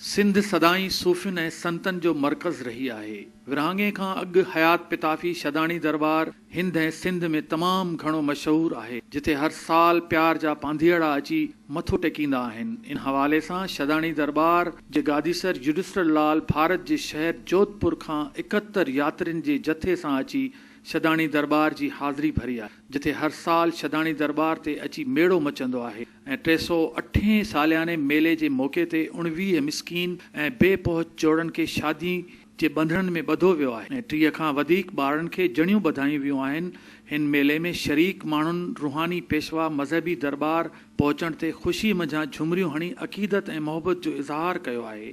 سنڌ سدائين صوفين ۽ سنتن جو مرڪز رهي آهي. ورهاڱي کان اڳ حيات پتافي شھداڻي درٻار هند ۽ سنڌ ۾ تمام گهڻو مشهور آهي، جتي هر سال پيار جا پانڌيئڙا اچي مٿو ٽيڪيندا آهن. ان حوالي سان شھداڻي درٻار جي گاديسر يوڊسٽر لال ڀارت جي شهر جوڌپور کان اڪهتر ياترين جي جٿي سان اچي شھداڻي درٻار جي حاضري ڀري آهي، جتي هر سال شھداڻي درٻار تي اچي ميڙو مچندو آهي. ۽ ٽي سؤ اٺين سالياني ميلي جي موقعي تي اڻويهه مسڪين ۽ بي پهچ جوڙن کي شادي جي ٻنڌڻن ۾ ٻڌو ويو آهي ۽ ٽيهه کان وڌيڪ ٻارڙن کي جڻيون ٻڌايون ويون آهن هن ميلي ۾ شريڪ ماڻهن روحاني پيشوا مذهبي درٻار پهچڻ تي خوشي منجهان جهومريون هڻي عقيدت ۽ محبت جو اظهار ڪيو آهي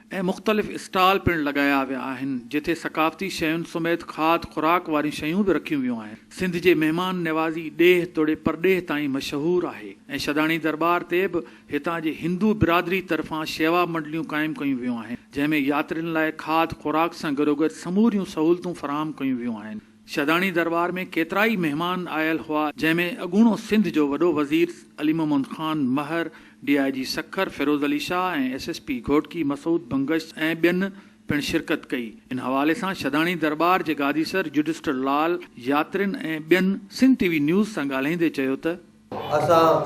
۽ مختلف اسٽال پڻ لڳايا ويا آهن جتي ثقافتي شين سميت کاڌ خوراڪ واريون شيون به رکيون ويون آهن سنڌ جي مهمان نوازي ڏيهه توڙي پرڏيهه تائين مشهور آهي ۽ شھداڻي درٻار تي به هتان جي هندو برادري طرفان شيوا منڊليون قائم ڪيون ويون آهن جنهن ۾ ياترين لاء کاڌ خوراڪ سان گڏوگڏ سموريون سهولتون فراهم ڪيون ويون آهن شھداڻي درٻار ۾ ڪيترائي مھمان آيل ھئا جنھن ۾ اڳوڻو سنڌ جو وڏو وزير Ali Muhammad Khan Mehar, D I G Sukkur Feroz Ali Shah ۽ S S P Ghotki Masood Bangash ۽ ٻين پڻ شرڪت ڪئي. ان حوالي سان شھداڻي درٻار جي گاديسر رجسٽر لال ياترين ۽ ٻين سنڌ ٽي وي نيوز سان ڳالھائيندي چيو ته. اسان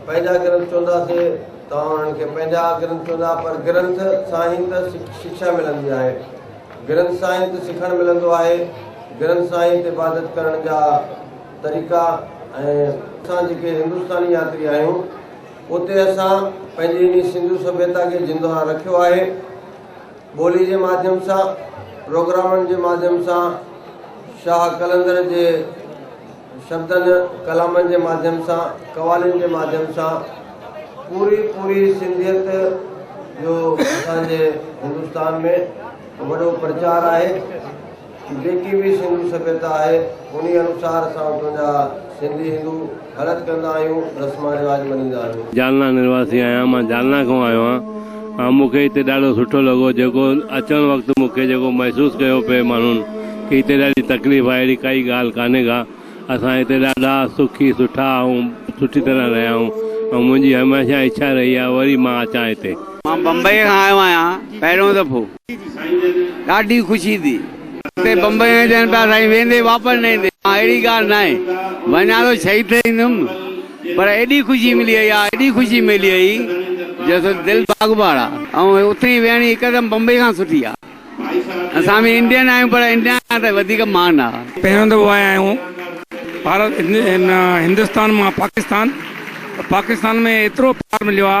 پنهنجا گرنٿ چونداسين، توهان انهن کي پنهنجا گرنٿ چوندا، پر گرنٿ سان ئي ته شڪشا ملندي آهي، گرنٿ سان ئي ته سکڻ ملندو آهي، گرنٿ سان ئي ته عبادت ڪرڻ جا طريقا ۽. اسان جيڪي هندستاني ياتري آهيون، اتي اسان پنهنجي انهي سنڌو سڀيتا کي زندهه رکيو آهي، ٻولي جي ماڌيم سان، پروگرامن جي ماڌيم سان، شاهه قلندر جي. شبدن ڪلامن جي ماڌيم سان قوالين جي ماڌيم سان پوري پوري سنڌيت جو اسان جي هندستان ۾ وڏو پرچار آهي جيڪي به سنڌو سڀيتا آهي انهي انوسار اسان اتو جا سنڌي هندو هلت ڪندا آهيون رسمان رواج مڃيندا آهيون. جالنا نرواسی آهيان مان جالنا کان آيو آهيان. مون کي هتي ڏاڍو سٺو لڳو جيڪو اچڻ وقت مون کي جيڪو محسوس ڪيو پئي ماڻهن کي هتي ڏاڍي تڪليف آهي اهڙي ڪائي ڳالهه ڪانهي ڪا اسان هتي ڏاڍا سکي سٺا ۽ سٺي طرح رهيا آهيون ۽ منهنجي هميشه اڇا رهي آهي وري مان اچان هتي. مان بمبئيء کان آيو آهيان پهريون دفعو. ڏاڍي خوشي ٿي اتي بمبئي ۾ ڏين پيا سائين ويندي واپس نه ايندي مان اهڙي ڳالهه ناهي وڃان ٿو شهيد ٿي ايندم پر ايڏي خوشي ملي هئي آ ايڏي خوشي ملي هئي جو سو دل باغباڙ آ ۽ اتي ئي ويهڻي هڪدم بمبئي کان سٺي آ اسان به انڊين آهيون پر انڊيا کان ته وڌيڪ مان آ پهريون دفعو آيا آهيون ڀارت هندستان مان پاڪستان پاڪستان ۾ ايترو پيار مليو آ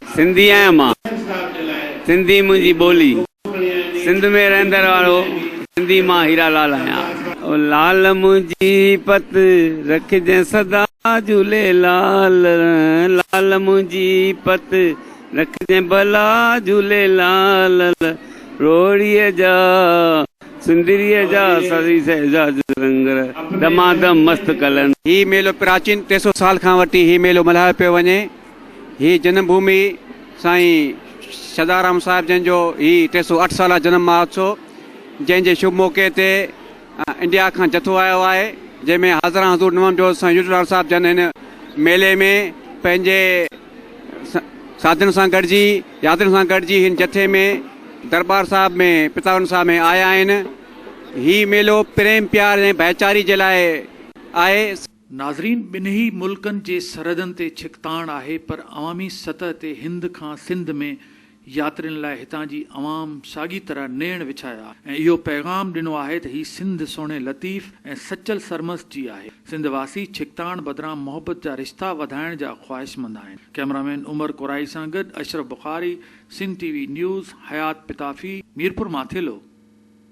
سنڌي آهيان مان سنڌي منهنجي ٻولي سنڌ ۾ رهندڙ وارو سنڌي مان هيرا لال آهيان. او لال منهنجي پت رکجين سدا جهولي لال لال منهنجي پت رکجين ڀلا جهولي لال روهڙي جا سندري جا سري سهزاج رنگ دمادم مست ڪلن. هي ميلو پراچين ٽي سؤ سال کان وٺي هي ميلو ملهايو پيو وڃي. هي جنم ڀومي سائين سدارام صاحب جن جو هي ٽي سو اٺ سالا جنم مهوتسو جنهن جي شڀ موقعي تي انڊيا کان جٿو آيو آهي جنهن ۾ حاضران حضور نوام جو سائين يوٽلال صاحب جن هن ميلي ۾ پنهنجي ساڌن سان گڏجي يادن سان گڏجي هن جٿي ۾ دربار صاحب ۾ پتاون صاحب ۾ آيا آهن هي ميلو پريم پيار ۽ ڀائيچاري جي لاء آهي ناظرين ٻنهي ملڪن جي سرحدن تي ڇڪتاڻ آهي پر عوامي سطح تي هند کان سنڌ ۾ ياترين لاء هتان جي عوام ساڳي طرح نيڻ وڇايا آهي ۽ اهو پيغام ڏنو آهي ته هي سنڌ سهڻي لطيف ۽ سچل سرمست جي آهي سنڌ واسي ڇڪتاڻ بدران محبت جا رشتا وڌائڻ جا خواهشمند آهن ڪئميرا مين عمر ڪورائي سان گڏ Ashraf Bukhari Sindh T V news Hayat Pitafi Mirpur مان ٿيلهو.